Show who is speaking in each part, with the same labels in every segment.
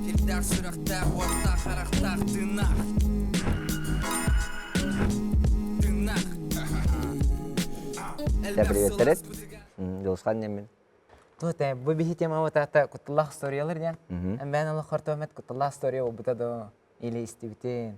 Speaker 1: Сирдээх сүрэхтээх, уоттаах, харахтаах, тыыннаах. Тыыннаах. Да, привет, привет. Досхан неммен. Тут э, бу биһи тема атата кутталлаах историялар дя. Мен олох хортомет кутталлаах история болбута до или истибитин.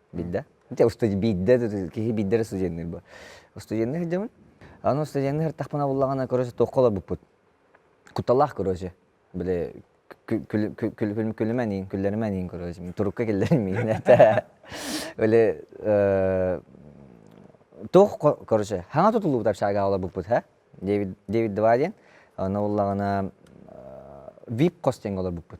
Speaker 1: биирдэ дьэ биирдэ киһи биирдэ эрэ студенныыр бу студенныыр дьабын аны студенныыр ыртахпына буллаҕына короче туохха олорбуппут куталаах короче били күлүмэн иин күллэримэн иин короче мин турукка киллэрим миин этэ били туох короче хаҥа тутуллубут общагаҕа олорбуппут һэ дэвид дэвид два диэн аны буллаҕына вип хос диэн олорбуппут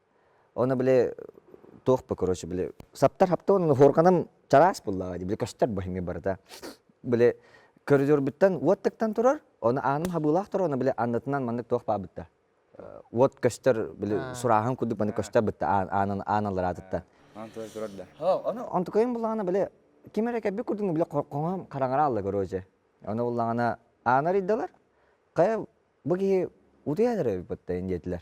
Speaker 1: Оны били туохпа, короче, били саптар хапта онуну хорганам чараас буллаҕа дии, били көстөр быһыҥы барыта. Били көрдөрбүттэн уот тыктан турар, оны ааным хабыылаах турар, оны били аннытынан маннык туох баабытта. Уот көстөр били сурааһын курдук маннык көстөр бытта аанын аан аллараатыттан. Аан туой турар да. Оны онтукайым буллаҕана били ким эрэ кэббик курдук били хоҥом хараҥара алла короче. Оны буллаҕана аанар ыйдалар. Хайа бу киһи утуйа эрэ ыппытта диэтилэр.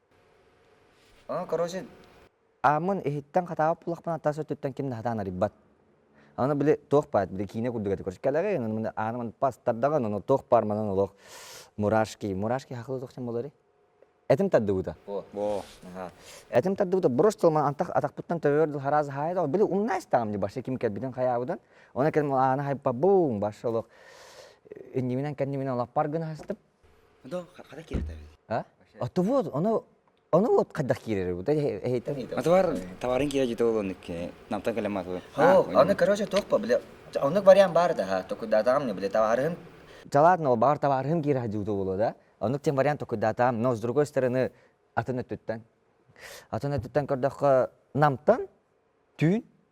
Speaker 1: Аны, короче, ааммын иһиттэн хатаабыт булахпын аттаас өттүттэн ким да хатаан арыйбат. Аны били туох баар били киинэ курдук этэ, короче кэлэҕэй ынаны аанымын пастардаҕа ынаны туох баар манан олох мурашки мурашки хахылы туохтан болары этим тардыбыта бо этим тардыбыта брошь тылман антах атахпыттан төбөбөр дыл хараз хаайда били умна истаҕым барша ким кэлбитин хайаабытын оны кэлим аана хайпа бум барша олох иннибинэн кэннибинэн олаппар гына астып Отовод, оно ону вот хайдах киирэрбит? Отовар табарын киирэ житэ болоннуки. Намтан калямату. О, ону короче токпа бile оннук вариант бар да токудатам не бile табарым. Жаладно бар табарым киирэ хадюта боло да. Онук тем вариант токудатам, но с другой стороны атын өттүттэн. Атын өттүттэн көрдөхкө намтан түүн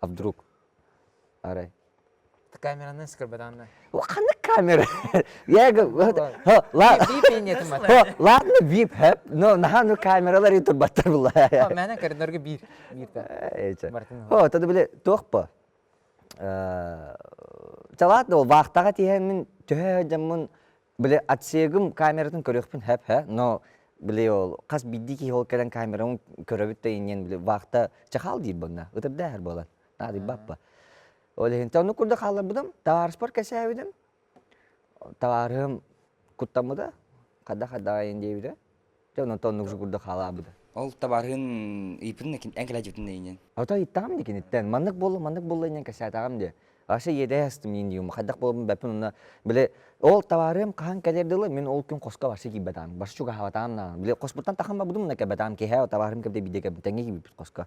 Speaker 1: А вдруг? Арай. Камеранан скорбаданна. Ханна камера? Я говорю, ладно, бип хэп, но наһаа ну камералар турбаттар булла. Мәнен коридорга биир биир Мартин. О, тогда были тохпа. Э, Чалаат да ол вахтаға тиһәмин төһө жаммын Били отсегым камератын көрүөхпүн хап-ха, но били ол хас биирдии киһи ол кэлэн камераны көрөбүт да иннин били вахта чахаал диир болна ытырдаахар буолан наадыйбаппа. Ол иһин оннук курдук хаалларбытым, табаарыспар кэсээбитим. Табаарыһым куттаммыта, хадда-хаддаҕа диэбитэ. Дьэ онон оннук жугурда хаалаабыта. Ол табаарыһын ыйыппытын эн кэлээдьиппитин иннин. Ото ыйыттаҕым ди киниттэн. Маннык буолла, маннык буолла иннин кэсээтаҕым ди. Вообще иэдэһэ астым инни юм. Хайдах буолабын бэппин онно. Били ол табаарыам хаһан кэлэр дылы мин ол күн хоско барса киирбэтаам. Барса чугаһаабатаам наа. Били хоспуттан тахан барбытым мына кэлбэтаам. Киһээ табаарым кэбдэ бидэ кэбдэ. Тэҥҥэ киирбиппит хоско.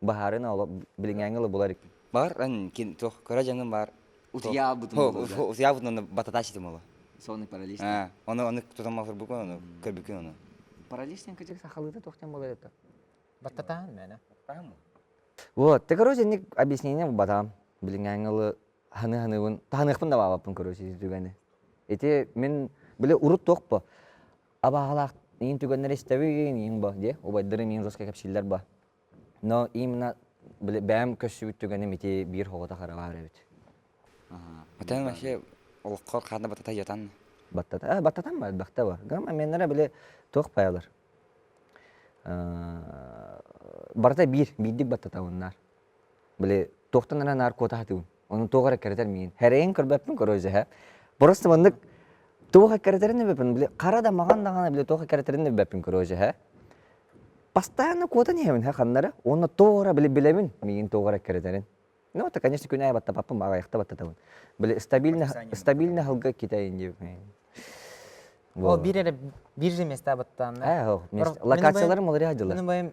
Speaker 1: Баһаарын оло билиҥээҥҥи оло булар иккен. Бар кин туох кыра дьаҥым бар. Утуйаабытым оло. Утуйаабытым онно бататачитым оло. Сонный паралич. Аа, ону ону тутан малфурбуккун ону көрбүккүн ону. Параличтан кыдьык сахалыыта туохтан болайыта? Баттатаан мээнэ. Баттаан Вот, ты, короче, ник объяснение батам. Билиҥээҥҥи оло ханы-ханыбын, таһаныахпын да баабаппын, короче, түгэни. Ити мин, били урут туохпа, абаһалаах иин түгэннэри истэбин иин бо дии убайдарым иин руска кэпсииллэр бо но именно бэйэм көссүбүт түгэним ити биир хоҕото хараҕар эбит Атаң вообще олоххор ханна батата йатан баттата э баттатан ба элбэхтэ бар гам меннера били туох пайалар барыта биир биирдик баттата уннаар били туохтан ара наркота хатыбын Ону туох эрэ кэрэтэр миин. Эрэйин көрбөппүн көрөөзөһө. Просто маннык туох кэрэтэрин өбөппүн били хара да маҕан даҕаны били туох кэрэтэрин өбөппүн көрөөзөһө. Бастаан куотан иһэбин һэ ханнары уонна тоҕо били билэбин миин туох эрэ кэрэтэрин. Ну это конечно күн аайы баттапаппын аҕайахта баттатабын. Били стабильно стабильно аһылга китэйин диэбиппин. О биир эрэ биир же места баттаанна. Ээ локацияларым олору хадьылар. Мин быйым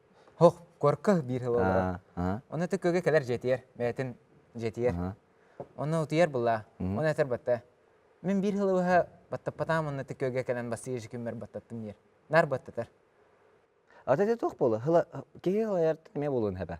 Speaker 1: Һох, куорка биир һылалара. Ону тыккыга кэлэр дьиэтигэр, бэйэтин дьиэтигэр. Онно утуйар булла. Ону этэр батта, мин биир һылыбыһа баттаппатаам онно тыккыга кэлэн бастыыр жекиммер баттаттым диир. Наар баттатар. А ты туох буола? Һыла киһи һылайар эмиэ буолуон хэбэ.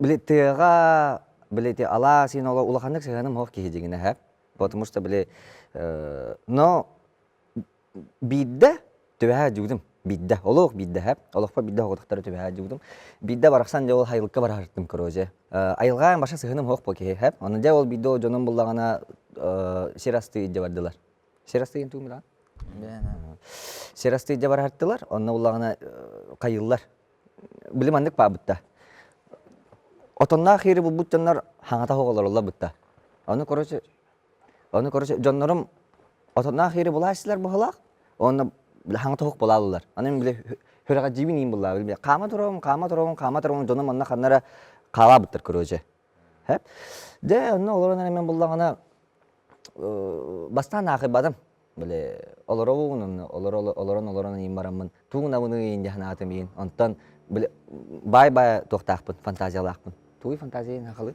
Speaker 1: били тыаҕа били ити алаа сиин олох улаханнык сыһыаным суох киһи дьиҥинэ эһэ потому что били но биирдэ түбэһэ дьүгүрүм биирдэ олох биирдэ эһэ олохпо биирдэ оҕотохтору түбэһэ дьүгүрүм биирдэ барахсан дьэ ол айылыкка бараһыттым короче айылҕаҕа башта сыһыаным суох буол киһи эһэ аны дьэ ол биирдэ дьонум буллаҕына сир астыы илдьэ бардылар сир астыы интубмудаҕа сир астыы илдьэ бараһыттылар онно буллаҕына хайыыллар били маннык баабытта. Отонноох ири булбут дьоннор хаҥата оҕолороллорбутта. Ону короче, ону короче дьоннорум отонноох ири булааччылар баһылаах, онно били хаҥата оһох булаалылар. Аны мин били хүрэҕэдьиибин иин буллаабын. Хаама туруом, хаама туруом, хаама туруом, дьонум онно ханнара хаалаабыттар короче. Дэ онно олорон эрэ мин буллаҕына бастаан аахыйбатым били олоробун олорон олорон иһин бараммын тугу гынабыный иһин дии санаатым иһин онтон били баай-баай туохтаахпын фантазиялаахпын тугуй фантазия һахалыы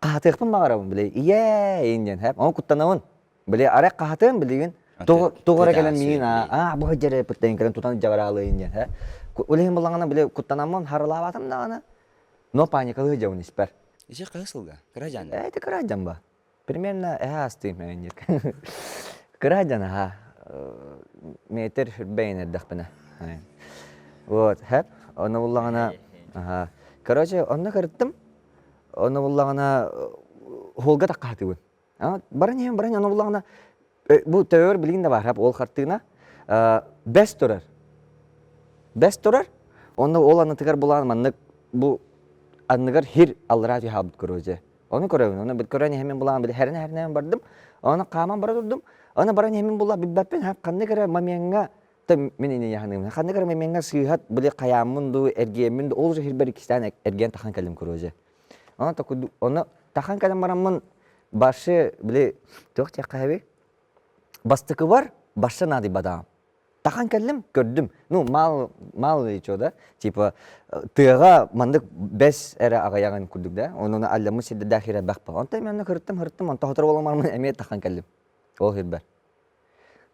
Speaker 1: хаһатыахпын баҕарабын били ийээ диэн һэп ону куттанабын били арай хаһатыам билигин тоҕо эрэ кэлэн миигин аа бу сылдьар пыттаҥ кэлэн тутан дьаҕараалыйын диэн һэ улиһин булаҕына били куттанаммын харылаабатым даҕаны но паникалыы дьабын испэр ичи кыһы сылга кыраджан ээ ити кыраджан ба примерно эһэ астыым ээнньик кыраджан аха метр үрбэйин эрдэхпинэ вот һэп ону буллаҕына аха короче онно кырыттым Ону буллаҕына уһулга тахха хатыбын. Баран иһэн баран ону буллаҕына бу төөр билигин да баар ол хартыына бэс турар. Бэс турар онно ол аннытыгар булаан маннык бу анныгар хир аллараа түһэ хаалбыт корозия. Ону көрөбүн. Ону көрөн иһэмин булаан били херен херенэн бардым. Ону хааман бара турдум. Ону баран иһэмин була билбэппин ханнык эрэ момеҥҥа мин инийэханым ханна кырымымеҥҥа сыыһат били хайааммын дуу эргиэммин дуу ол сиһирбэр иккистээн эргиэн тахан кэллим короче онно такой онно тахан кэлэн бараммын баршы били туох диэххэ эби бастыкыбар барша наадыйбатаҕым тахан кэллим көрдүм ну мал мал ичо да типа тыаҕа маннык бэс эрэ аҕыйаҕын курдук да онуну алламмыт сирдэрдээх хирэрбэхпэ онто мен оны кырыттым хырыттым онто хотору боломармын эмиэ тахан кэллим ол сирбэр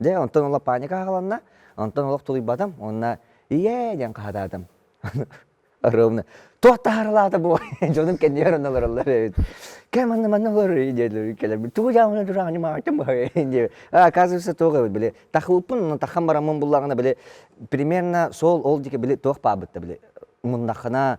Speaker 1: Дьэ онтон ыла паника аһыланна, онтон олох тулуйбатым уонна ийээ диэн хаһытаатым. Ровно туох таһарылаата бу дьонум кэннибэр онно олороллор эбит. Кэ манна манна олорор диэлэр кэлэрбит тугу дьааманы тураан ньымаатым бу оказывается тоҕо эбит били тахылпын но тахан бараммын буллаҕына били примерно сол ол диэки били туох баабыт да били муннахына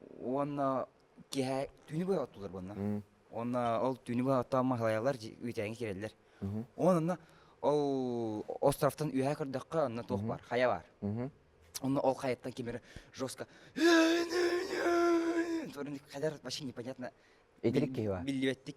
Speaker 1: уонна киэһэ түүнү быһа оттулар буонна уонна ол түүнү быһа оттоон маһылайалар үүтээҥҥэ киирэллэр онно ол островтан үөһэ көрдөххө онно туох баар хайа баар онно ол хайаттан ким эрэ жестко толору хайдар вообще непонятно итирик киһи биллибэттик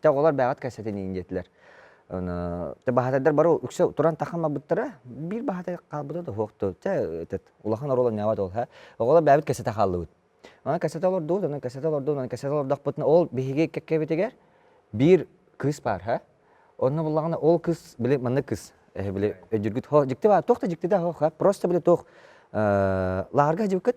Speaker 1: Те оҕолор бэйэҕит кэссэтин иин диэтилэр. Те баһатайдар бары үксэ туран тахамабыттара. Биир баһатай хаалбыта да суох дуо. Те улахан оруол онньообот ол һэ. Оҕолор бэйэбит кэссэтэ хааллыбыт. Онон кэссэтэ олордубут, онон кэссэтэ олордубут, онон кэссэтэ олордохпутуна ол биһиги кэккэбитигэр биир кыыс баар һэ. Онно буллаҕына ол кыыс били манна кыыс били өдьүргүт дьикти баар. Туох да дьикти да суох һэ. Просто били туох лааҕырга сдьибиккит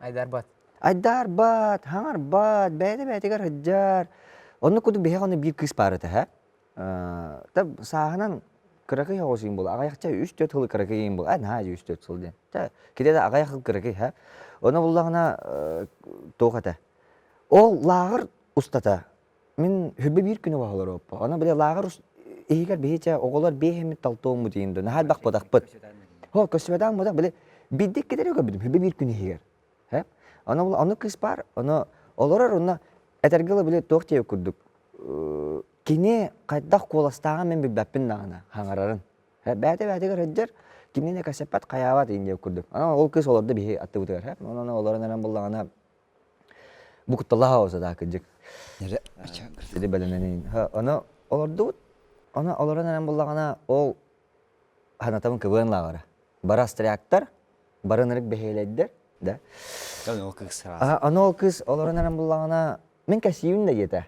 Speaker 1: Айдарбат. Айдарбат, хаҥарбат, бэйэтэ-бэйэтигэр сылдьар. Оннук курдук биһиэхэ ону биир кыыс баар этэ ээ. Та сааһынан кыракый оҕусуйан буолла. Аҕайахча үс-төрүт сыл кыракыйын буолла. Э наһаа үс-төрүт сыл диэн. Та китэтэ аҕайах сыл кыракый һэ. Ону буллаҕына туох этэ. Ол лааҕыр устата Мин хүббэ биир күнү баһа олороппо. Аны били лааҕыр иһигэр биһичэ оҕолор биэһэммит талтуоммут иһин дө наһаа элбэх бодахпыт. Һо көссүбэтээн бодах били биддик китери көрбүтүм хүббэ биир күн иһигэр. Һэ ону ону кыспаар ону олорор уонна этэргэ ыла били туох диэбит курдук кини хайдах куоластааҕын мин билбэппин даҕаны хаҥарарын. Һэ бэйэтэ бэйэтигэр сылдьар кимнине кэпсэппэт хайаабат иһин диэбит курдук. Аны ол кыыс олордо биһи аттыбытыгар һэ онуону олорон эрэн буллаҕына Бу кутталаах аҕа да кырдьык сири бэлэмнэнин ону олордубут ону олорон эрэн буллаҕына ол ханатабын кыбыан лааҕара бара стряктар барын ырык бэһиэлэйдэр да ону ол кыыс олорон эрэн буллаҕына мин кэсиибин да диэтэ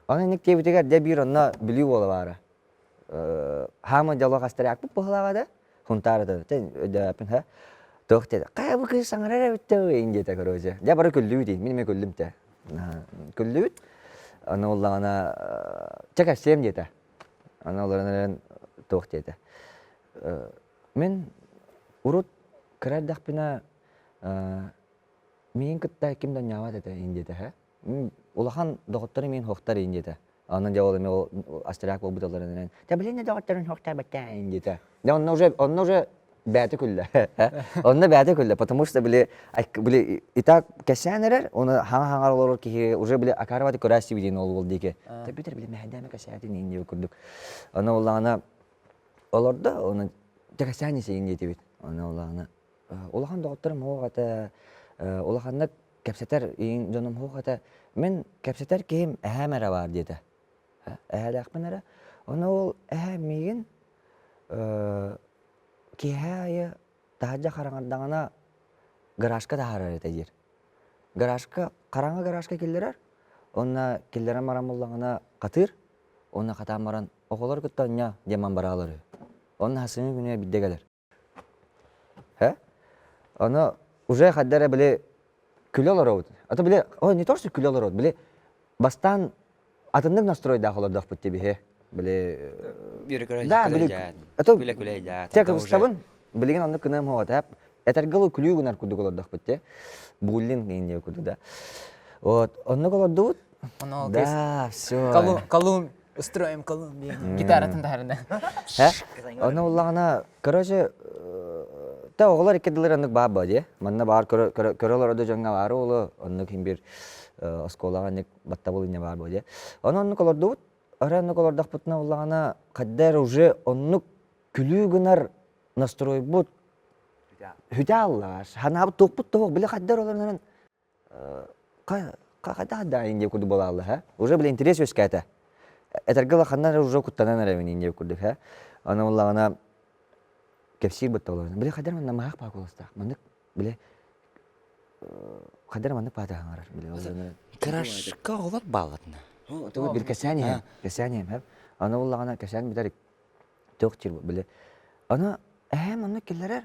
Speaker 1: Ол инник диэбитигэр дьэ биир онно Бүлүү уола баара хаамыт дьолох астарыакпыт быһылааҕа да хунтаары да туох диэтэ хайа бу кыыс саҥарар эбит да ин диэтэ короче дьэ бары күллүбүт мин эмиэ күллүм те күллүбүт аны буоллаҕына чэ кэпсиэм диэтэ аны олорон туох диэтэ мин урут кыра эрдэхпинэ миин кытта ким да онньообот этэ ин диэтэ улахан доҕотторум миин хуохтар иин диэтэ онон дьэ ол эмиэ ол астряк буолбут алларын энэн тэбилиннэ доҕотторун хуохтар баттааһын диэтэ дьэ онно уже онно уже бэйэтэ күллэ онно бэйэтэ күллэ потому что били били и так кэсээн эрэр оны хаҥа хаҥар олорор киһи уже били акарывати көрөөсти диэн ол ол диэки төбүтэр били мэһэдээмэ кэсээтин иин диэбит курдук ону оллаана олордо оны тэкэсээн исиин диэтибит ону оллаана улахан доҕотторум суох этэ улаханнык кэпсэтэр дьонум суох этэ мин кэпсэтэр киһим эһээм эрэ баар диэтэ эһээлээхпин эрэ ону ол эһээм миигин киэһэ аайы таһырдьа хараҥардаҕына гаражка таһаарар этэ диир гаражка хараҥа гаражка киллэрэр уонна киллэрэн баран буллаҕына хатыыр уонна хатаан баран оҕолор кытта оонньоо диэн бараалар үһү онно сымыы күнүө биддэ кэлэр Э? Ону уже хадда эрэ били күлэ олоробут. А то били, ой, не то, что күлэ олоробут, били бастаан атыннык настройдаах олордохпут дии биһи. Били Да, били это те кыбыстабын билигин оннук кынам хоҕотап этэргэл күлүү гынар курдук олордохпут те буллин инде курду да вот оннук олордубут да все калум устроим колумб гитаратын таһарына ону буллаҕына короче та оҕолор икки дылыр оннук баар боо дие манна баар көрө олордо дьоҥҥа баары уолу оннук хин бир оскуолаҕа аннык баттабыл инне баар боо дие ону оннук олордубут ары оннук олордохпутуна буллаҕына хаддэр уже оннук күлүү гынар настройбут хүтэ аллааш ханаабыт туохпут тоһох биле хаддэр олорнорун хайдах даайын диэбит курдук буолаалла һэ уже блин интерес үөскээтэ этэргэ улаханнар уже куттанан эрэбин диэбит курдук һэ аны буллаҕына кэпсиир быт толору били хайдар манна маһах паа куоластаах маннык били хайдар маннык паатаһаҥарар били крашка олор баалатына тугу бил кэсээн иһэм кэсээн иһэм һэм аны буллаҕына кэсээн бүтэр туох тир бу били аны эһэм маннык киллэрэр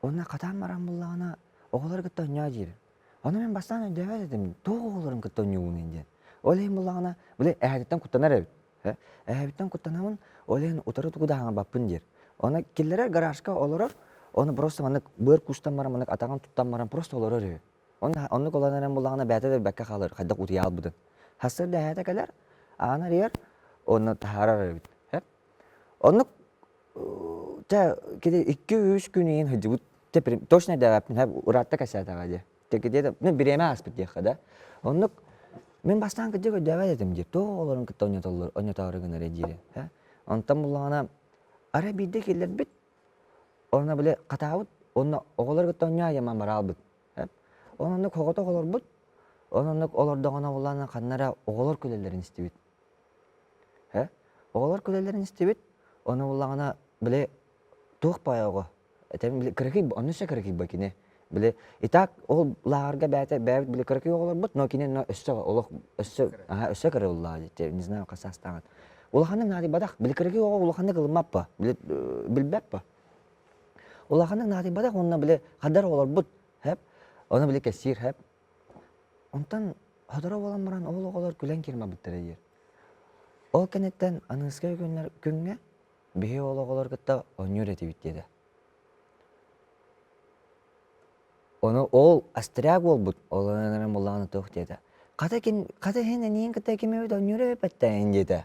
Speaker 1: Уонна хатаан баран буллаҕына, оҕолору кытта оонньоо диир. Ону мин бастаан өйдөөбөт этим, туох оҕолорун кытта оонньуубунуй диэн. Ол иһин буллаҕына, били эһэтиттэн куттанар эбит. Эһэбиттэн куттанабын, ол иһин утары тугу да аһаҥарбаппын диир. Уонна киллэрэр гаражка олорор, ону просто маннык быар куустан баран, маннык атаҕын туттан баран просто олорор үһү. Онно оннук олорон эрэн буллаҕына бэйэтэ да билбэккэ хаалар, хайдах утуйа хаалбытын. Сарсыарда эһэтэ кэлэр, ааны арыйар, онно таһаарар эбит. Оннук Чэ кини икки-үс күн иһин сылдьыбыт точно дэбэппин һэ ыраатта кэссээтэҕэ дии тэлкитиэтэ мин бириэмэ ааспыт диэххэ да оннук мин бастаан кырдьык өйдөөбөт этим дии тоҕо олорон кытта ойнотоору гынарый диэри һэ онтон буллаҕына арай биирдэ киллэрбит онно били хатаабыт уонна оҕолор кытта онньо айаммын бара аалбыт һэ ол оннук соҕотох олорбут ол оннук олордоҕуна буллаҕына ханна эрэ оҕолор күлэллэрин истибит Э? Оҕолор күлэллэрин истибит. Ону буллаҕына били туох поёго этэн били кыракый онно өссө кыракый бо кини. Били итак ол лааҕырга бэйэтэ бэйэбит били кыракый оҕолорбут, но кини но өссө олох өссө аһа өссө кыра уллаа дии. Не знаю хас саастааҕын. Улаханнык наадыйбатах. Били кыракый оҕо улаханнык ылыммаппа. Били билбэппэ. Улаханнык наадыйбатах уонна били хадар оҕолорбут. Хэп. Ону били кэпсиир хэп. Онтон сотору буолан баран ол оҕолор күлэн кирмабыттара диир. Ол кэнниттэн Аныыска күннэр күҥҥэ биһи ол оҕолор кытта оонньуур этибит диэтэ. Ону ол астряк уолбут ол ыран буллаҕына туох диэтэ. Хата ким хата иһин эниин кытта ким эбит оонньуура эбиппэттээйин диэтэ.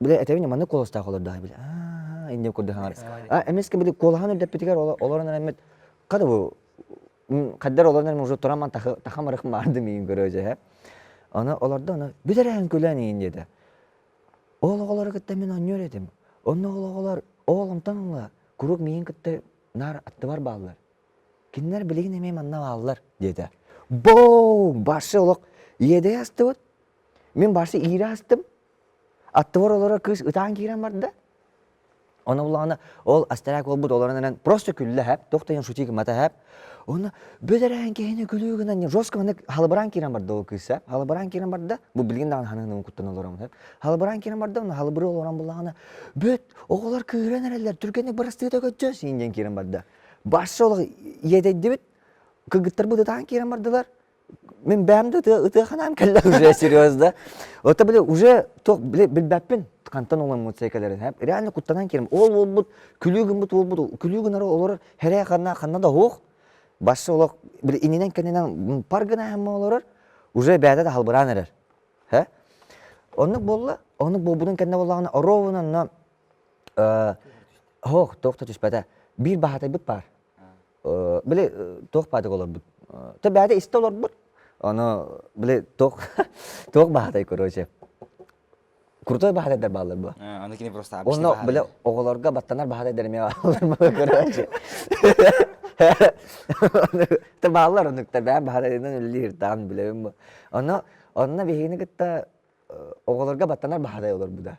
Speaker 1: Бля, этэбин маннык куоластаах олордоҕой били. Аа, инде курдук хаҥарыска. А эмискэ били куолаһан өрдөппүтүгэр олорон эрэммит хата бу хаддар олорон эрэм уже турам тахам ырых маарды миин көрө дьэһэ. Аны олордо аны бүтэрэһин күлэн иин диэтэ. Ол оҕолору кытта мин онньор этим. Онно ол оҕолор ооломтон ылла куруук миин кытта наар аттыбар бааллар. Кинилэр билигин эмиэ манна бааллар диэтэ. Боо, барсы олох иэдэйэ астыбыт. Мин барсы иирэ астым. Аттыбар олорор кыыс ытаан киирэн барда. Ону булаҕына ол астарак буолбут олорон эрэн просто күллэһэп, туох да шутик матаһэп. Уонна бэдэрээн киһини күлүү гынан жестко маннык халабараан киирэн барда ол кыыс ээ. Халабараан киирэн барда. Бу билигин даҕаны хаһан куттана олороммут эп. Халабараан киирэн барда уонна халабырыы олорон булаҕына бүт оҕолор кыыран эрэллэр түргэнник бырастыыта көччө син диэн киирэн барда. Башша олох иэдэйдибит кыргыттарбыт ытаан киирэн бардылар. Мин бэйэм да ытыаханаан кэллэ уже серьезно. Это били уже билбэппин хантан омоммут сээкелерин. Реально куттанан келем. Ол болбут күлүү гыммыт болбут күлүү гынары олорор херэ ханна ханна да хоох. Башсы олох били ининен кеннен пар гына хэмме олорор уже бээде да халбыраан эрэр. Хэ? Оннук болла. Оннук болбудун кэнне боллагына оровунанна хоох тоқта түспәтэ. Биир баһатайбыт бар. били туох баатык олорбут бэйэтэ истэ олорбут ону били туох туох баһатай короче крутой баһатайдар баалар була аны кини просто уонна били оҕолорго баттанар баһатайдар эмиэ короче ты баалар оннукта бэйэн баһатайынан үллиһиртаан билэбин бу ону онно биһигини кытта оҕолорго баттанар баһатай олорбута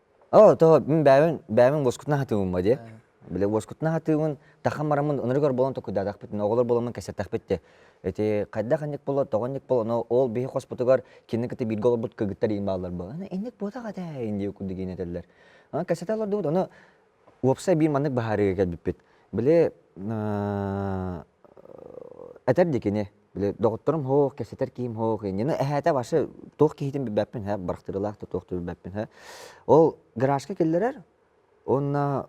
Speaker 1: оо того мин бэйэбин бэйэбин уоскутун аһатыыбын дии били уоскутун аһатыыбын тахан бараммын ынырыгар буолан токуйдаатахпытына оҕолор буоламмын кэпсэттэхпит дии ити хайдах инник болот тоҕо инник болот анау ол биһи хоспутугар кинини кытта бииргэ олорбут кыргыттар иин бааллар буолан инник буотах этэ ин диэки курдук иин этэллэр аны кэпсэтэ олордубут ону уопсай биир маннык быһаарыыга кэлбиппит били этэр ди кини Били доҕотторум һоох, кэпсэтэр киһим һоох, инньэни эһээтэ вообще туох киһитин билбэппин һэ, барахтырылаах да туох да билбэппин һэ. Ол гаражка киллэрэр уонна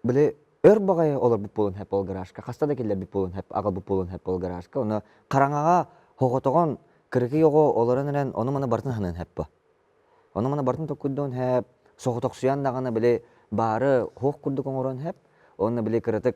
Speaker 1: били өр баҕайы олорбут буолан һэп ол гаражка, хаста да киллэрбит буолан һэп, аҕалбыт буолан һэп ол гаражка. Уонна хараҥаҕа хоҕотоҕон кыракый оҕо олорон эрэн ону-маны барытын саныан һэп бу. Ону-маны барытын толкуйдуон һэп, соҕотохсуйан даҕаны били баары һоох курдук оҥоруон һэп. Уонна били кыратык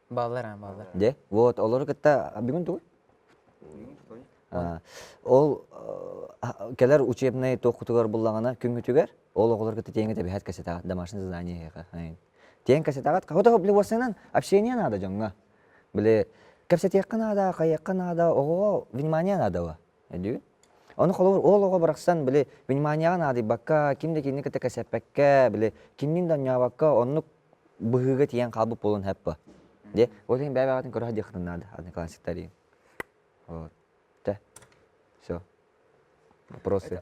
Speaker 1: Баллар аа, баллар. Дьэ, вот олору кытта бүгүн тугуй? Ол кэлэр учебнай туохкутугар буллаҕына күҥҥүтүгэр ол оҕолор кытта тиэҥҥэ тэбиһэт кэсэтэҕит, домашнее задание эһиэхэ. Тиэҥ кэсэтэҕит, хотох блювосынан общение наада дьоҥҥо. Били, кэпсэтиэххэ наада, хайыахха наада, оҕоҕо внимание наада Өдүү. Ону холобур ол оҕо барахсан били вниманияҕа наадыйбакка, ким да кинини кытта кэсэппэккэ, били киннин да онньообокко оннук быһыыга тиийэн хаалбыт буолуон сөп. Дьэ, ол иһин бэйэ-бэйэҕитин көрө садьыаххытын наада, аны классиктарыын. Вот. Тэ. Все. Вопросы?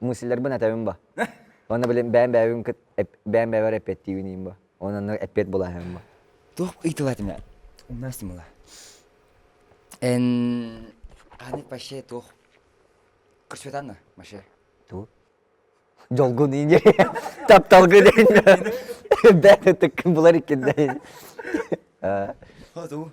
Speaker 1: Муслиларбын этэбин бо. Онно билин бэйэм бэйэбин кыт бэйэм бэйэбэр эппиэттиибин иим бо. Онон онно эппиэт булаһыам бо. Туох ыйтылатына умнастым ыла. Эн аны вообще туох көрсөтанна вообще? Туу. Дьолгун иини тапталгын иини бэт ытыккын булар иккин дэй. Хоту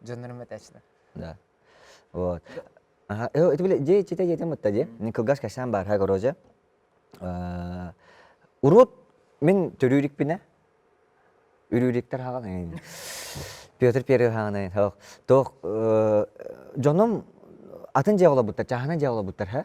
Speaker 1: дьоннорум этээччилэр да вот это были дети читать детям вот тоде кылгас касаан баарха горожа урут мен төрүүрикпинэ үрүүрүктер хаҕан Петр Первый хааны тоқ тоқ дьонум атын дьиэ олобуттар чаһана дьиэ олобуттар ха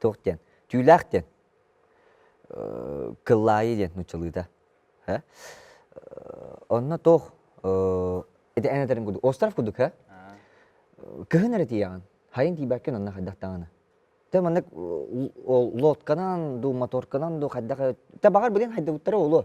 Speaker 1: туох диэн түүлээх диэн кыллаайы диэн нууччалыыта онно туох ити эн этэрин курдук остров курдук э кыһын эрэ тиийэҕин хайын тиийбэккин онно хайдах даҕаны ты маннык лодканан дуу моторканан дуу хайдах ты баҕар билин хайдыбыттара буолуо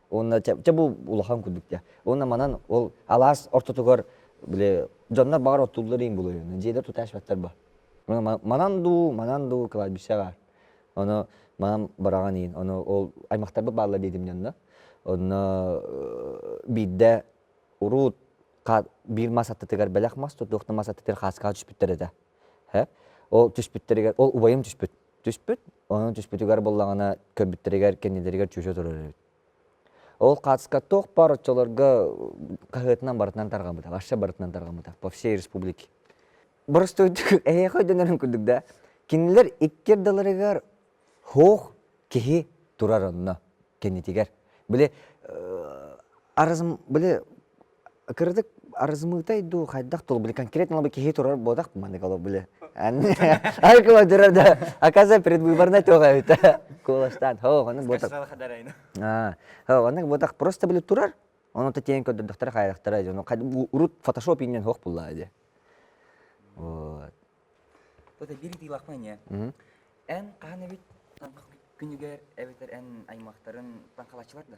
Speaker 1: уонна чэ бу улахан курдук дьэ уонна манан ол алаас ортотугар били дьоннор баҕар оттуллар иин булуйун дьиэлэр тутаачпаттар ба манан дуу манан дуу кладбищеҕа ону манан бараҕан иин ону ол аймахтарбыт баалла диэтим дьонно онно биирдэ урут биир мас аттытыгар бэлэх мас тутуохта мас аттытыгар хааскаҕа түспүттэр этэ ол түспүттэригэр ол убайым түспүт түспүт Онон түспүтүгэр буллаҕына көбүттэригэр кэннилэригэр чүчэ турар эбит. Ол кацка туох бар оччолорго хаһыатынан барытынан тарҕаммыта, вообще барытынан тарҕаммыта по всей республике. Боростуойдук эһиэхэ дэнэрин курдук да, кинилэр икки ардыларыгар һуох киһи турар онно кэннитигэр. Били э, арызм били кырдык арызымыытай дуу хайдах тул били конкретно бы киһи турар буотах маннык олох били ай кыладырар да оказывается предвыборная тёга эбитэ кулаштан хо оннук буотах хо оннук буотах просто били турар ону тетен көрдөрдөхтөрө хайдахтара дьону урут фотошоп иннен хох булла ди вот вот бир тыылахмайне эн хаһан эбит күнүгэр эбитер эн аймактарын таҥхалачылар да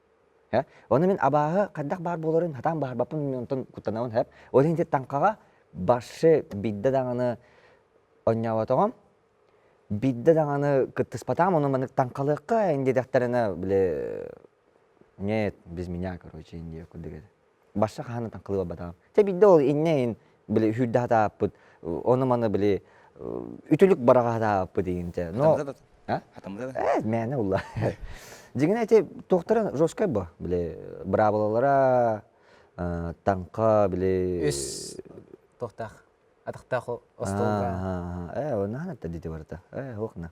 Speaker 1: Һэ? Ону мин абааһы хайдах баар буоларын хатаан баарбаппын мин онтон куттанабын һэп. Ол иһин ити таҥхаҕа баршы биирдэ даҕаны онньооботоҕум. Биирдэ даҕаны кыттыспатаҕым ону маннык таҥхалыахха ин диэтэхтэринэ били нет без меня короче ин диэбит курдук этэ Башта хаһан атан кылыбабатаҕым. Чэ биирдэ ол иннин били сүүрдэ сатааппыт ону-маны били үтүлүк бараҕа сатааппыт инте. Э мээнэ булла. Дьиҥинэ ити туохтара жесткай бо били быраабылалара таҥха били үс туохтаах атахтаах остуолга э онна ханатта дити барыта э охна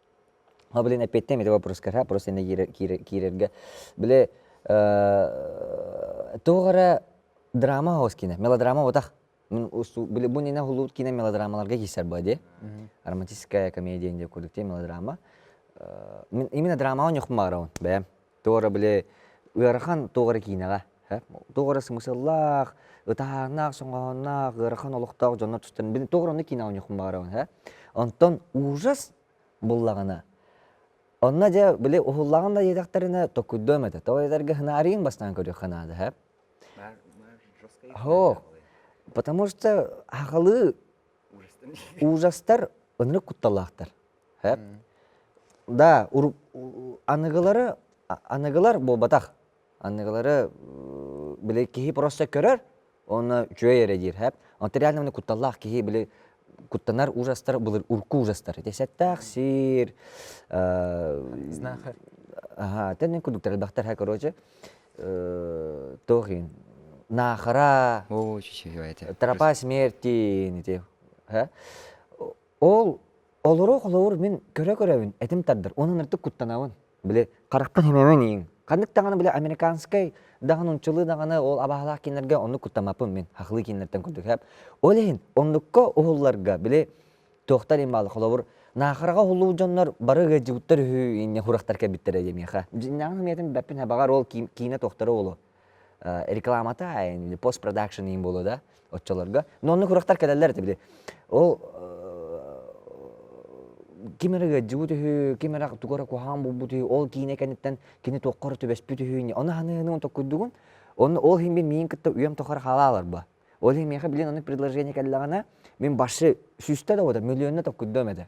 Speaker 1: Ол блин эппиэттээм ити вопроска ха просто иннэ киирэргэ били тоҕо эрэ драма хаос киинэ мелодрама бутах мин били бу иннэ хулуут киинэ мелодрамаларга киирсэр быа дии романтическая комедия диэн курдук мелодрама именно драмаҕа ньухмаарабын бэйэм Туора били ыарахан туох эрэ киинэҕэ. Туох эрэ смысллаах, ытаһааннаах, соҥоһонноох, ыарахан олохтоох дьоннор тустан били туох эрэ онно киинэҕэ оонньуохпун баҕарабын. Онтон ужас буллаҕына онно дьэ били уһуллаҕын да диэтэхтэринэ токкуйдуом этэ. Тоҕо диэтэргэ хынаарыйын бастаан көрүөххэ наада. Оһо. Потому что сахалыы ужастар ынырык кутталлаахтар. да аныгылары аныгылар буолбатах аныгылары били киһи просто көрөр уонна үчүгэй эрэ диир онтон реально міне кутталлаах киһи били куттанар ужастар былыр урку ужастар десэттаах сиир тэннин кудуктар элбэхтэр һэ короче тохин наахара тропа смерти ити Ол олоруох олоҕор мин көрө-көрөбүн, этим тардар. Онон ырдык куттанабын. Били харахпын имэбин ийиҥ. Ханнык даҕаны били американскай даҕаны нууччалыы даҕаны ол абааһылаах кииннэргэ оннук куттаммаппын мин. Хахылыы кииннэртэн курдук эһэм. Ол иһин оннукка уһулларга били туохтар им бааллар холобур наахараҕа уһуллубут дьоннор бары ыалдьыбыттар үһү инньэ хурахтар кэлбиттэрэ диэн миэхэ. Дьиҥнээҕин миэтин бэппин эбэҕэр ол киинэ туохтара уолу. рекламата пост продакшн иин буолуо да оччолорго но онно күрүөхтар кэлэллэр этэ били ол ким эрэ ыадьыбыт үһү ким эрэ тугу эрэ куһаан булбут үһү ол киинэ кэнниттэн кини туохха эрэ түбэспит үһү ону ханыыны токкуйдугун онно ол иһин мин миин кытта үйэм тухары хаалааларба ол иһин миэхэ билин ону предложение кэллэҕинэ мин башшы сүүстэ да миллионна токкуйдуом этэ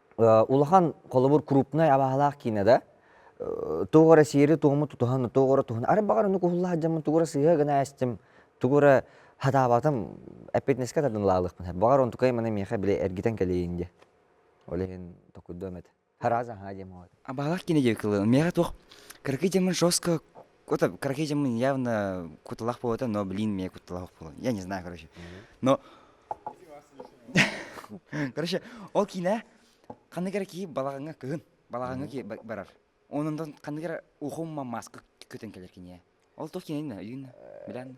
Speaker 1: улахан холобур крупнай абаһалаах киинэ да туох эрэ сиэри туому тутуһан туох эрэ туһан ары баҕар ону куһуллаах дьоммун тугу эрэ сыыһа гына эстим тугу эрэ хатаабатым эппиэтинэскэ тардылаалыахпын баҕар онтукай маны миэхэ били эргитэн кэлэйин диэ ол иһин токурдуом этэ хараазаха диэм абаһалаах киинэ диэки кылын миэхэ туох кыракый дьоммун жестко Кута, короче, явно куталах буолата, но, блин, мне куталах было. Я не знаю, короче. Но... Короче, ол киинэ ханны кэрэ кии балаҕаҥҥа кыһын балаҕаҥҥа кии барар. Онон ханны кэрэ ухумма маска көтөн кэлер кине. Ол тот кине өйүнна, билен.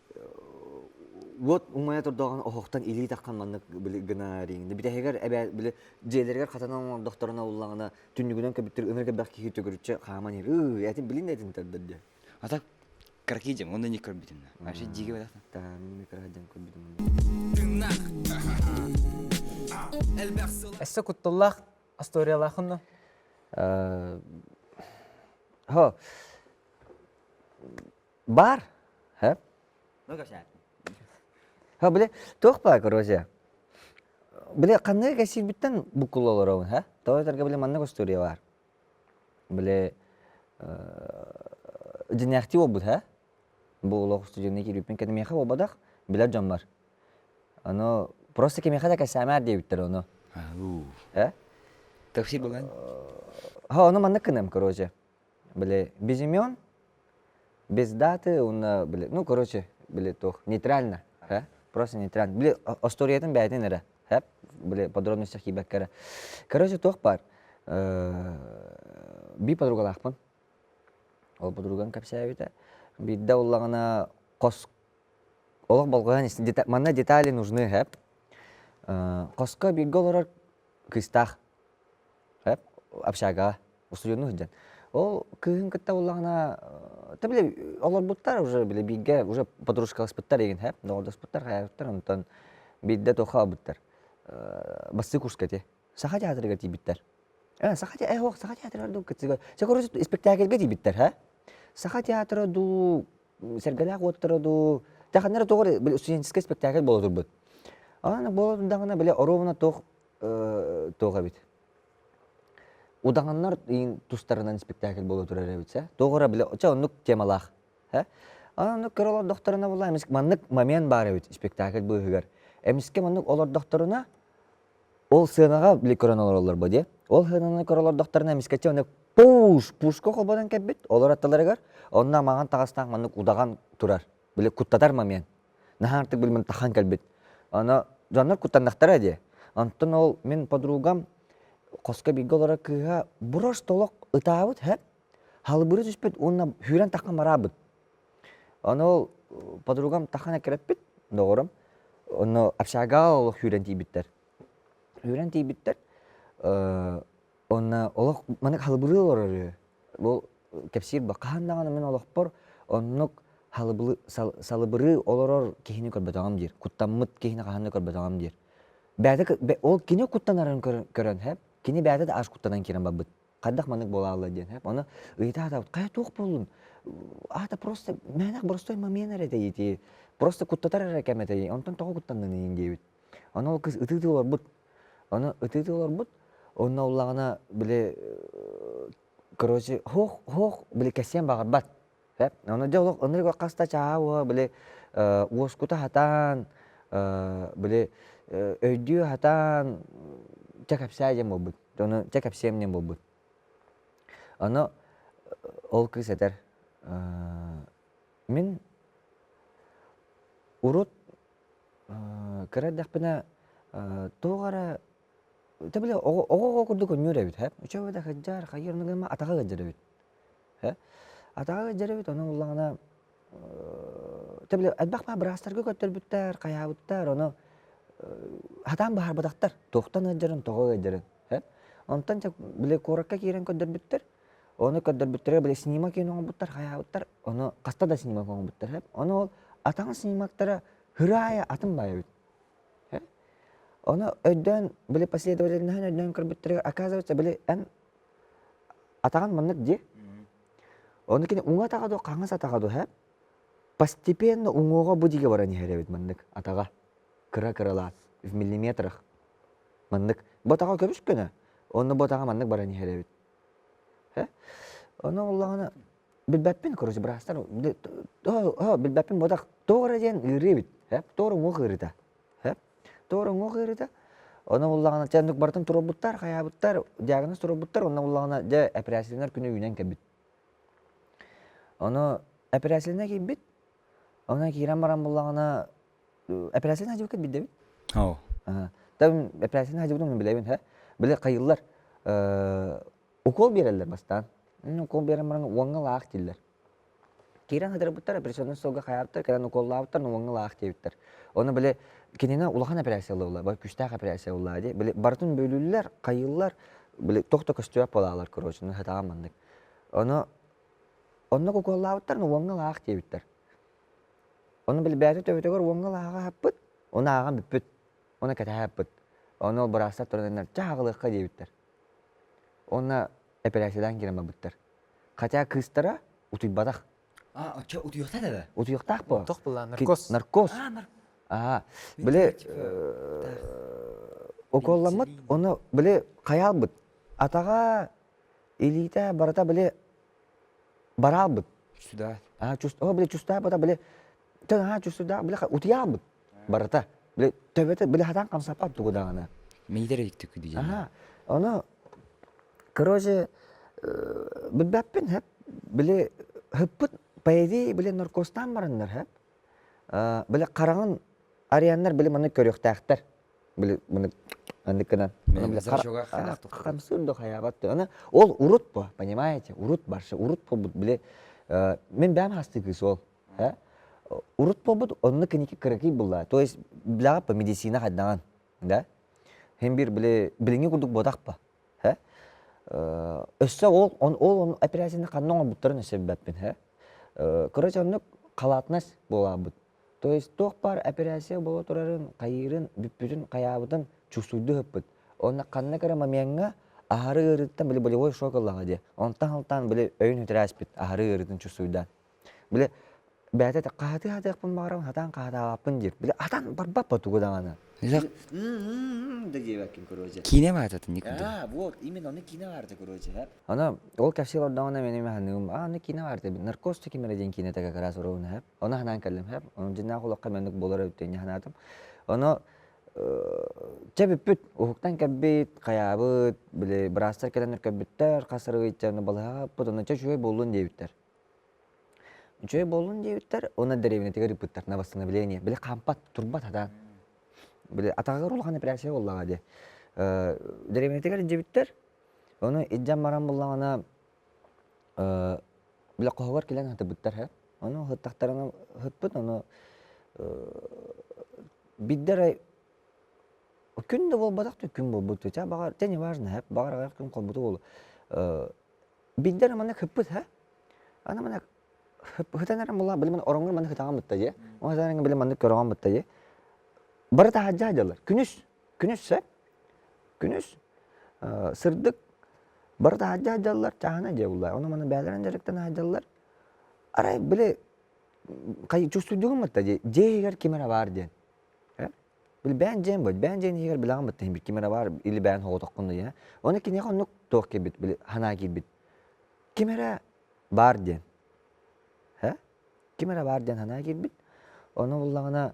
Speaker 1: уот умайа турдоҕун оһохтон илии таххан маннык били гына риҥни бүтэһигэр эбээ били дьиэлэригэр хатанан оҥордохторуна уллаҕына түннүгүнэн көбүттүр ыныр кэбэх киһи төгүрүччэ хааман иһэр ыы этин билин да этин тардар дэ ата кыракий дьаҥ онно не көрбүтүнна вообще дьиге бадах таамы кырахадьаҥ көрбүтүн тыынах эссе куттуллаах асториялаахынна ха Бар. Һэ? Һа били туох баар короче. Били ханнык кэсиирбиттэн буккул олоробун һэ? Тоҕо этэргэ били маннык устуоруйа бар. Били дьиниэхтии буолбут һэ? Бу олох устудьуоннуу киирбиппин кэнэмиэхэ буолбатах, билэр дьоммор. Ону просто кимиэхэ да кэсээмээр диэбиттэр ону. Һэ? Тапсыр болан. Һа ону маннык гыныам короче. били без имен без даты уонна били ну короче били туох нейтрально э просто нейтрально били остуоруйатын бэйэтин эрэ э били подробностях киирбэккэ эрэ короче туох баар би подругалаахпын ол подругам кэпсээбитэ биирдэ уллаҕына хос олох болҕойон истин манна детали нужны э хоско бииргэ олорор кыыстаах общагаҕа устудьуоннуу сылдьан ол кыыһын кытта буллаҕына то били олорбуттар уже били бииргэ уже подружкаласпыттар игин һэп доҕордоспуттар хайаспыттар онтон биирдэ туохха ылбыттар бастыы курска ити саха театрыгар тиийбиттэр ээ саха э уох саха театрыгар дуу кыцыга испэктээкилгэ тиийбиттэр һэ саха театра дуу сэргэлээх уоттара дуу таханара тоҕо били студенческай испэктээкил буола турбут аны буола турдаҕына били оруобуна туох туох эбит удаҕаннар тустарынан спектакль буола турар эбит ээ тоҕо били чэ оннук темалаах ээ оннук көр олордохторуна була эмискэ маннык момент баар эбит спектакль быыһыгар эмискэ маннык олордохторуна ол сыанаҕа били көрөн олороллор бо диэ ол сыананы көрө олордохторуна эмискэчи ону пуш пушка холбонон кэлбит олор аттыларыгар онно маҥан таҥастаах маннык удаҕан турар били куттатар момент наһаа артык биллим тахан кэлбит аны дьоннор куттаннахтара дии онтон ол мин подругам хоско бииргэ олорор кыыһа буруш толох ытаабыт һэ халыбыры түспүт уонна сүүрэн таххан бараабыт аны ол подругам тахан эккирэппит доҕорум ону общага олох сүүрэн тиийбиттэр сүүрэн тиийбиттэр Онно олох маннык халыбылыы олорор үһү. Бу кэпсиир бу хаһан даҕаны мин олохпор оннук халыбылы сал салыбырыы олорор киһини көрбөтөҕүм диир. Куттаммыт киһини хаһан да көрбөтөҕүм диир. Бэйэтэ к бэ ол кини куттанарын көрөн көрөн һэп, кини бэйэтэ да ас куттанан киирэн барбыт. Хайдах маннык буолаалла диэн һэп. Ону ыйыта сатаабыт, хайа туох буоллун? Аата просто мээнэх простой момент эрэ этэйитии. Просто куттатар эрэ кэм этэйии. Онтон тоҕо куттанныҥ диэбит. Ону ол кыз ытыытыы олорбут. Ону ытыытыы олорбут. Онно уллаҕына били короче һуох һуох били кэсиэн баҕарбат. Эп ону дьэ олох ынырык хас да чааһа уоһа били уоскута сатаан били өйдүү сатаан чэ кэпсээ диэн буолбут. Ону чэ кэпсиэм диэн буолбут. Ону ол кыз этэр мин урут кыра эрдэхпинэ тоҕо эрэ өтө билэ оҕо оҕоҕо курдук өнньүөр эбит ээ өчөбө да кырдьар хайыыр ону гына атаҕа ыалдьар эбит ээ атаҕа ыалдьар эбит ону ыллаҕына өтө билэ элбэх баар быраастарга көттөрбүттэр хайаабыттар ону сатаан быһаарбатахтар туохтан ыалдьарын тоҕо ыалдьарын ээ онтон дьэ били куоракка киирэн көрдөрбүттэр Оны көрдөрбүттэрэ били снимок иһин оҥорбуттар, хайаабыттар. Ону хаста да снимок оҥорбуттар эбит. Ону ол атаҕын снимоктара һыраайа атын баай эбит. Э? Ону өйдөөн, били последовательноһын өйдөөн көрбүттэригэр, оказывается, били эн атаҕын маннык дии. Ону кини уҥа атаҕа дуо, хаҥас атаҕа дуо, э? постепенно уҥуоҕа бу диге баран иһэр эбит маннык атаҕа. Кыра-кыралаан в миллиметрах. Маннык. Бу атаҕа көбүскөнө, онно бу атаҕа маннык баран иһэр эбит. Ону ыллаҕына билбэппин, короче, быраастар билбэппин бодох тоҕо эрэ диэн ыарыы эбит. Тоҕо эрэ уҥуох ыарыыта. Тоҕо эрэ уҥуох ыарыыта. Ону ыллаҕына чэ оннук барытын туруорбуттар, хайаабыттар, диагноз туруорбуттар, онно ыллаҕына дьэ эпэрээссийэлэнэр күнэ үүнэн кэлбит. Ону эпэрээссийэлэнэ киирбит. Онно киирэн баран буллаҕына Эпэрээссийэни садьыбыккыт билдэбит? Оо. Там эпэрээссийэни садьыбытын мин билэбин ээ. Били хайыыллар укуол биэрэллэр бастаан. Укуол биэрэн баран уоҥҥа лаах дииллэр. Киирэн садьырыппыттар, операционнай суолга хаайаптар, кэлэн укуоллаабыттар, уоҥҥа лаах диэбиттэр. Ону били кинини улахан эпэрээссийэ буолла, бу күүстээх эпэрээссийэ буолла дии. Били барытын бөлүүллэр, хайыыллар, били тох да көстүбэт буолаалар, короче, сатаан маннык. Ону онно укуоллаабыттар, уоҥҥа лаах диэбиттэр. Ону билбээти төбөтүгэр уоҥҥа лааҕа аһаппыт, ону ааҕан бүппүт, ону кэтэһэ аһаппыт. Ону ол быраастар турарыннар чэ аһаҕалыахха диэбиттэр. Уонна эпэрээссийэлээн киирэн барбыттар. Хотя кыыстара утуйбатах. А оччо утуйуохта да бэ? Утуйуохтаах буо. Мотох была наркоз. Наркоз. А наркоз. Аа били укуолламмыт ону били хайаалбыт атаҕа илиитэ барыта били бараалбыт Сүдаа. аа чус о били чустаабыта били тыҥ аа чусудаах били утуйаалбыт барыта били төбөтө били хатаан хамсаппат тугу даҕаны миидэр иттик дии аха ону короче билбэппин хэп били хыппыт поэзии били норкуостаан бараннар хэп били хараҥын ареннар били маны көрүөхтээхтэр били маны анныкынан хамсыыр да хайаабат аны ол урут бо понимаете урут барша урут буолбут били мен бэйэм хастыы кыыс ол урут буолбут онно кэники кыракый булла то есть билаҕа по медицина хайдаҕан да хин бир били билиҥи курдук буотах ба өссө ол ол операцияны ханна оҥорбуттарын өссө билбэппин короче оннук халатнас буолаабыт То есть туох баар операция буола турарын хайыырын бүппүтүн хайаабытын чувствуйду ыппыт. Онно ханна кыра момеҥҥа аһары ыарыыттан били болевой шок ыллаҕа дии. Онтон хантан били өйүн үтэрээспит аһары ыарыытын чувствуйда. Били бэйэтэ хаһатыы хатыахпын баҕарабын хатаан хаһатаабаппын диир. Били атан барбаппа тугу даҕаны. Киинэ баататын никудэ. А, вот, именно оны киинэ баарда, короче. Аны ол кэпсиил ордоҕуна мин саныыбын, аа аны киинэ баар эбит, Наркоз диэн киинэтэ кыра сурук үһү. Ону санаан кэллим сэп, ону дьиннээх олоххо маннык буолар эбит диэн санаатым. Ону чэ бүппүт, уһуктан кэлбит, хайаабыт, били быраастар кэлэн көрбүттэр, хас арыгычча ону балаһаппыт, ону чэ үчүгэй буоллун диэбиттэр. Үчүгэй буоллун диэбиттэр, уонна дэриэбинэтигэр ыыппыттар на восстановление, били хаампат, турбат сатаан. Били атаҕыгар улахан эпиляция буоллаҕа дии. Дэриэбинэтигэр илдьибиттэр, Ону илдьэн баран буллаҕына э, блокоһугар кэлэн сатыбыттар һэ. Ону ыһыттахтарына ыһыппыт, ону бидде эрэ күн да буолбатах да күн буолбут. Чэ, баҕар, чэ неважно һэ, баҕар аҕыйах күн холбуту буолуо. Э, биддэ эрэ маннык ыһппыт һэ. Аны маннык ыһытан эрэн буллаҕа, били мин ороҥҥор маннык ытаҕан бытта дии. Ол сатаан били маннык көрөҕөн бытта дии. Бары таһааддьаа дьаллар. Күнүс күнүссэ күнүс сырдык барыта аһардьа сылдьаллар чааһынай дьиэ буллар ону маны бээлэрин дьарыктан аһардьаллар арай били чувствуйдугун мытта дии дьиэ иһигэр ким эрэ баар диэн билбээн дьиэм быт бээн дьиэн иһигэр билэҕин бытта иһин ким эрэ баар или бээн хоҕотоххунна диэн оны киниэхэ оннук туох кэлбит били санаа киирбит ким эрэ баар диэн ким эрэ баар диэн санаа киирбит ону буллаҕына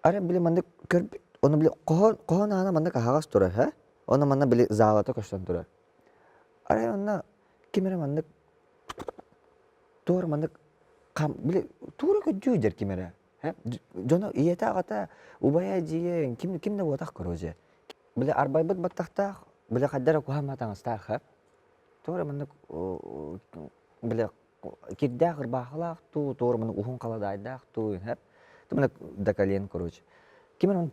Speaker 1: Ары били маннык көрбүт, ону били хоһоон, хоһоон аана маннык аһаҕас турар, һэ? Ону манна били заалата көстөн турар. Арай манна ким эрэ маннык туора маннык хам, били туора көддүү дэр ким эрэ, һэ? Дьоно ийэтэ-аҕата убайа эдьиийин ким, ким да буотах короче. дьэ били арбайбыт баттахтаах, били хайдах эрэ куһаҕаҥҥа таҥастаах, һэ? Туора маннык били кирдээх ырбаахылаах дуу, туорманы уһун халадаайдаах дуу, хэп. Тымына до колен, короче. Ким эн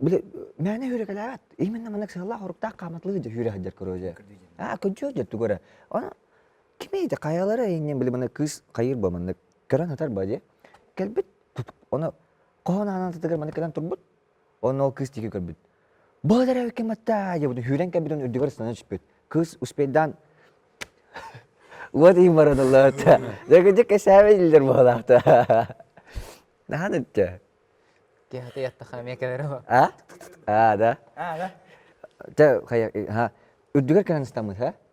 Speaker 1: били мээнэ хүрекэлээбэт. Именно маннык сыаллаах оруктаах хааматлыы дьэ хүрэ сылдьар көрөөжө. Аа көдьүүр дьэ түгөрө. Аны кимийде хайалары иннин били маны кыыс хайыр ба маннык көрөн ытар ба дьэ. Кэлбит оны хоһонаанан тыгыр маннык кэлэн турбут Оны ол кыыс диэки көрбүт. Быт эрэ ким атта диэбит сүүрэн кэлбит он үрдүгэр ыстана түспүт. Кыыс успейдаан вот им барадаллаат. Дэгидэ кэсээбэ диллер баһалаахта. Наһан өттө. Киһата ятта хамия кэлерэ. А? А, да? А, да? Тэ хая ха үрдүгэр кэлэн ыстаммыт, ха?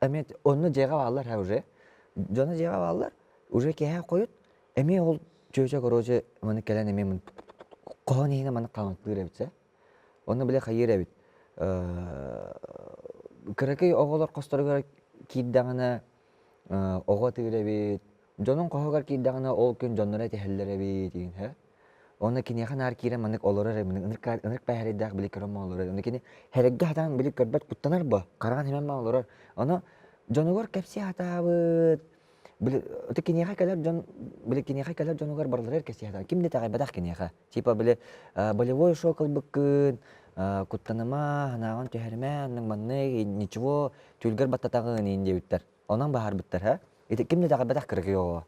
Speaker 1: эмиэ онно дьиэҕэ бааллар ээ уже дьоно дьиэҕэ бааллар уже киэһэ хойут эмиэ ол чүөчэ короче маннык кэлэн эмиэ хоһоон иһинэ маннык хаамыктыыр эбит ээ онно били хайыыр эбит кыракый оҕолор хосторугар киирдэҕинэ оҕо атыыр эбит дьонуҥ хоһугар киирдэҕинэ ол күн дьонноро этиһэллэр эбит иһин Онно киниэхэ наар киирэн маннык олорор эмин ынырык пээһэрийдээх били көрөн ма олорор ону кини хэрэггэ хатаан били көрбөт куттанар бо хараҕын химэн ма олорор ону дьонугар кэпсии хатаабыт били ото киниэхэ кэлэр дьон били киниэхэ кэлэр дьонугар барыларыгар кэпсии хатаа ким да таҕайбатах киниэхэ типа били болевой шоу кылбыккын куттаныма ханааҕын түһэрмэ аннык маннык ничего түлгэр баттатаҕын иин диэбиттэр Онон баһарбыттар ити ким да итэҕэбэтэх кыргый оҕо.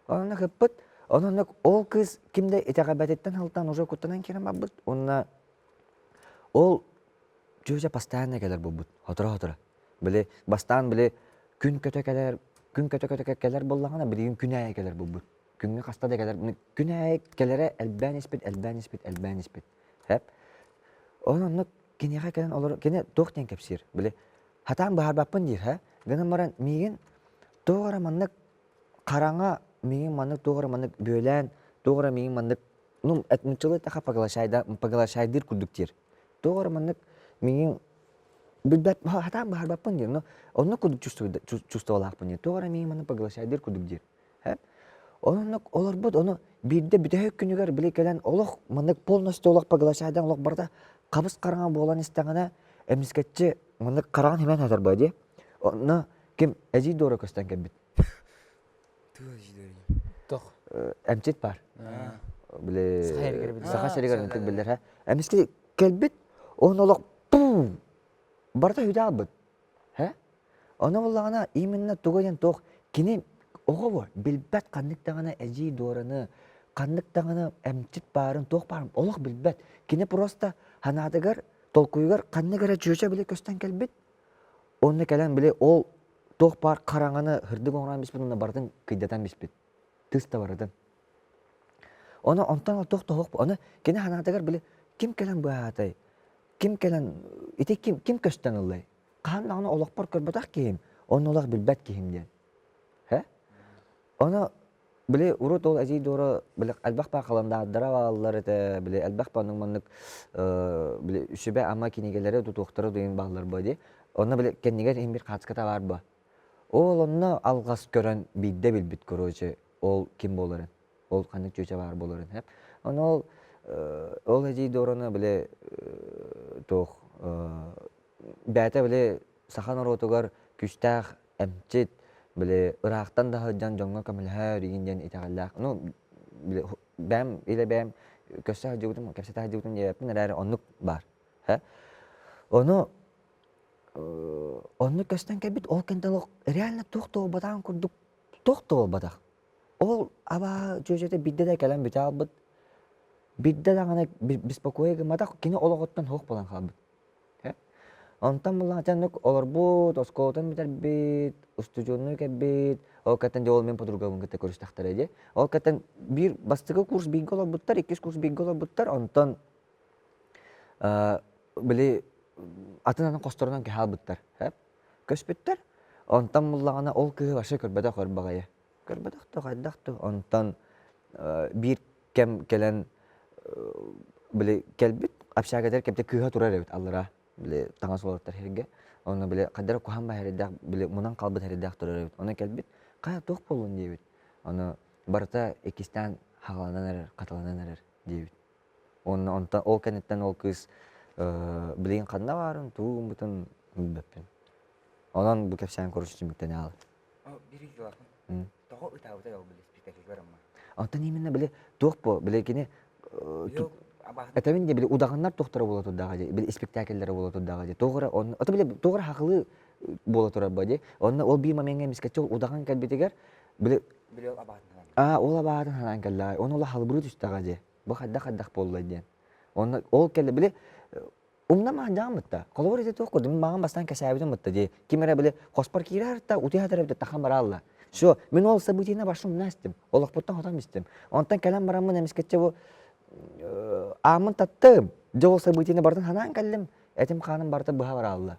Speaker 1: Онно кыппыт, онно ол кыз ким да итэҕэбэтиттэн сылтан уже куттанан киирэн барбыт. Уонна ол чүөчэ постоянно кэлэр буолбут хоторо-хоторо. Били бастаан били күн көтө кэлэр, күн көтө-көтө кэлэр буоллаҕына билигин күн аайы кэлэр буолбут. Күҥҥэ хаста да кэлэр. Күн аайы кэлэрэ элбээн испит, элбээн испит, элбээн испит. Эп. Онон оннук киниэхэ кэлэн олор кини туох диэн кэпсиир? Били Хатаан быһаарбаппын диирһэ, гынан баран миигин тоҕо эрэ маннык хараҥа миигин маннык тоҕо эрэ маннык бүөлээн тоҕо эрэ миигин маннык ну это началыт аха поглощайда поглощайдыыр курдук диир. Тоҕо эрэ маннык миигин билбэт хатаан быһаарбаппын диир, но онно курдук чувствовалаахпын диир, тоҕо эрэ миигин маннык поглощайдыыр курдук диир. Оннук олорбут ону биирдэ бүтөһүк күнүгэр били кэлэн олох маннык полностью олох поглощадан олох барыта хабыс-хараҥа буолан истэҕинэ эмискэччи маннык хараҥан химэн сытар бо дии онно ким эдьиий Дора көстөн кэлбит тох эмчит баар били саха сиригэр ынтык биллэр эмискэ кэлбит он олох барыта үдэ аалбыт Ону буллаҕына именно тугу диэн туох кини оҕо билбэт ханнык даҕаны эдьиий дуораны, ханнык даҕаны эмчит баарын, туох баарын олох билбэт. Кини просто санаатыгар, толкуйугар ханнык эрэ чүөчэ били көстөн кэлбит. Онно кэлэн били ол туох баар хараҥаны һырдык оҥорон биспит уонна барытын кыйдатан биспит. Тыс да барытын. Ону онтон ол туох тоһох аны кини санаатыгар били ким кэлэн быһаатай? Ким кэлэн ити ким ким көстөн ыллай? хаһан даҕаны олохпор көрбөтөх киһим, онно олох билбэт киһим диэн. Э? Ону били урут ол эдьиий Дуора били элбэх баа халандаардара бааллар этэ, били элбэх баннык маннык э, били сүбэ ама кинигэлэри тутуохтара дойын бааллар бо дии. Онно били кэннигэр иһин бир хаацката баар бо. Ол онно алгас көрөн биирдэ билбит короче ол ким буоларын. Ол ханнык чүчэ баар буоларын хэп. Ону ол э, ол эдьиий Дуораны били э, туох э, бээтэ били саха норуотугар күүстээх эмчит, били ыраахтан да сылдьан дьоҥҥо көмөлөһөөрүгүн диэн итэҕэллээх. Ну, били бэйэм илэ бэйэм көрсө сылдьыбытым, кэпсэтэ сылдьыбытым диэбиппин эрээри оннук баар. Һэ? Ону оннук көстөн кэлбит ол кэнтэн олох реально туох да буолбатаҕын курдук туох да буолбатах. Ол абаа дьүөдьэтэ биирдэ да кэлэн бүтэ хаалбыт. Биирдэ даҕаны беспокойа гымматах, кини олоҕуттан суох буолан хаалбыт. Онтон былаачаннык олорбут, оскуолатын бүтэрбит, устудьуоннуу кэлбит, ол кэнтэн дьэ ол мин подругабын кытта көрүстэхтэрэ дьэ. Ол кэнтэн биир бастакы курс бииргэ олорбуттар, иккис курс бииргэ олорбуттар, онтон били атын-атын хосторунан кэһэ албыттар. Көспүттэр. Онтон буллаҕына ол кыыһы вообще көрбөтөх өр баҕайы. Көрбөтөх да хайдах да онтон биир кэм кэлэн били кэлбит общагадыр кэмтэ кыыһа турар эбит аллара били таҥас уолаттар сиргэ онно били хайдах куһан бар эрдээх били мунан хаалбыт эрдээх турар эбит онно кэлбит хайа туох буолуон диэбит ону барыта иккистээн хааланан эрэр хатыланан эрэр диэбит уонна онтон ол кэнниттэн ол кыыс билигин ханна баарын тугу гыммытын билбэппин онон бу кэпсээн короче түмүктэнэ хаалар Тоҕо ытаабытай ол били спектакльгар амма? Оттон именно били туох бу били кини этэбин де били удаҕаннар тухтара буола турдаҕа же били спектакльлere буола турдаҕа же тоҕура онно ото били тоҕура хахылыы буола турар бо же онно ол бии момеҥҥа эмискэччи ол удаҕан кэлбитигэр били били ол абаатынан аа ол абаатын санаан кэллэҕэ ону ол халбырыы түстэҕэ же бу хайдах хайдах буолла диэн онно ол кэлли били Умна маһдьаҕын бытта. Холобур ити туох курдук, мин мааҕын бастаан кэсээбитим бытта дии. Ким эрэ били хоспор киирээхтэ, утуйа сатаабыт таххан бараалла. Все, мин ол событиена башта умна истим. Олохпуттан хотон истим. Онтон кэлэн бараммын эмискэччи бу ааммын таттым. Дьэ ол событиены барытын санаан кэллим. Этим-хааным барыта быһа бараалла.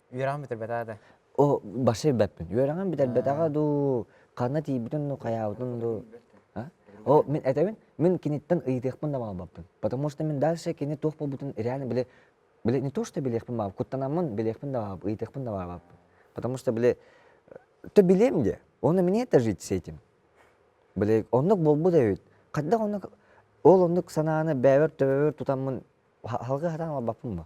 Speaker 1: Үөрэҕин бүтэрбэтэ да? О, барса билбэппин. Үөрэҕин бүтэрбэтэҕэ дуу, ханна тиийбитин дуу, хайаабытын дуу. О, мин этэбин, мин киниттэн ыйытыахпын да баҕарбаппын. Потому что мин дальше кини туох буолбутун реально били били не то что билиэхпин баҕарбаппын, куттанаммын билиэхпин да баҕарбаппын, ыйытыахпын да баҕарбаппын. Потому что били то билиэм диэ, уонна мне это жить с этим. Били оннук буолбут эбит. Хайдах оннук ол оннук санааны бэйэбэр төбөбөр тутаммын салгыы хатан ылбаппын бо.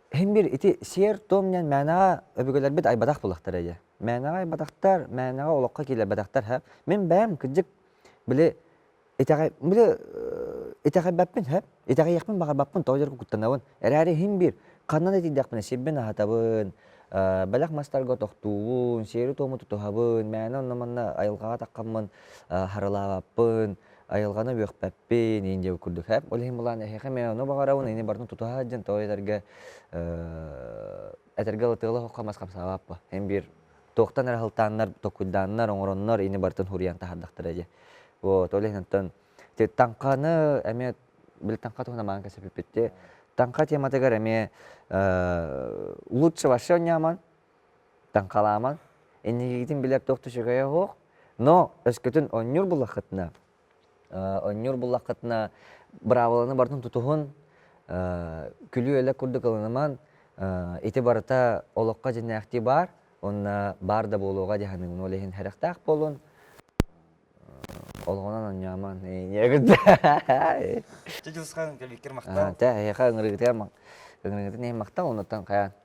Speaker 1: Химбир ити сиэр-туом диэн мээнэҕэ өбүгэлэрбит айбатах буолахтара ийэ. Мээнэҕэ айбатахтар, мээнэҕэ олоххо киирбэтэхтэр һэ. Мин бэйэм кырдьык били итэҕэй били итэҕэйбэппин һэ. Итэҕэйиэхпин баҕарбаппын тоҕо диэри куттанабын. Эрээри химбир ханнан итийдэхпинэ сирбин аһатабын, бэлэх мастарга тохтуубун, сиэри-туому тутуһабын, мээнэ онно-манна айылҕаҕа таххаммын харылаабаппын. айылҕаны үөхпэппин инде курдук һэп ол иһин былаан эһиэхэ мэ ону баҕарабын ини барын тутуһа сылдьан тоҕо этэргэ этэргэ ылытыала хоххо мас хамсаабаппа эн биир туохтан эрэ сылтааннар токуйдааннар оҥороннор ини барытын хуруйан таһардахтара дьэ вот ол иһин оттон ти таҥханы эмиэ бил таҥха туһуна маан кэсэпиппитти таҥха тематыгар эмиэ лучше вообще ньаман Таҥхалаамаҥ, инникигитин билэр туох да үчүгэйэ суох, но өскөтүн оонньуур буллаххытына, оонньуур буллаххытына быраабыланы барытын тутуһун, күлүү-элэк курдук ылынымаҥ, ити барыта олоххо дьиннээхтии баар уонна баар да буолуоҕа дии саныыбын, ол иһин сэрэхтээх буолун, олоҕунан оонньоомоҥ Дьэ, Дьылысхан, кэлбиккэр махтал. Эһиэхэ ыҥырыытыгар, ыҥырыытын иһин махтал, оннуттан хайаан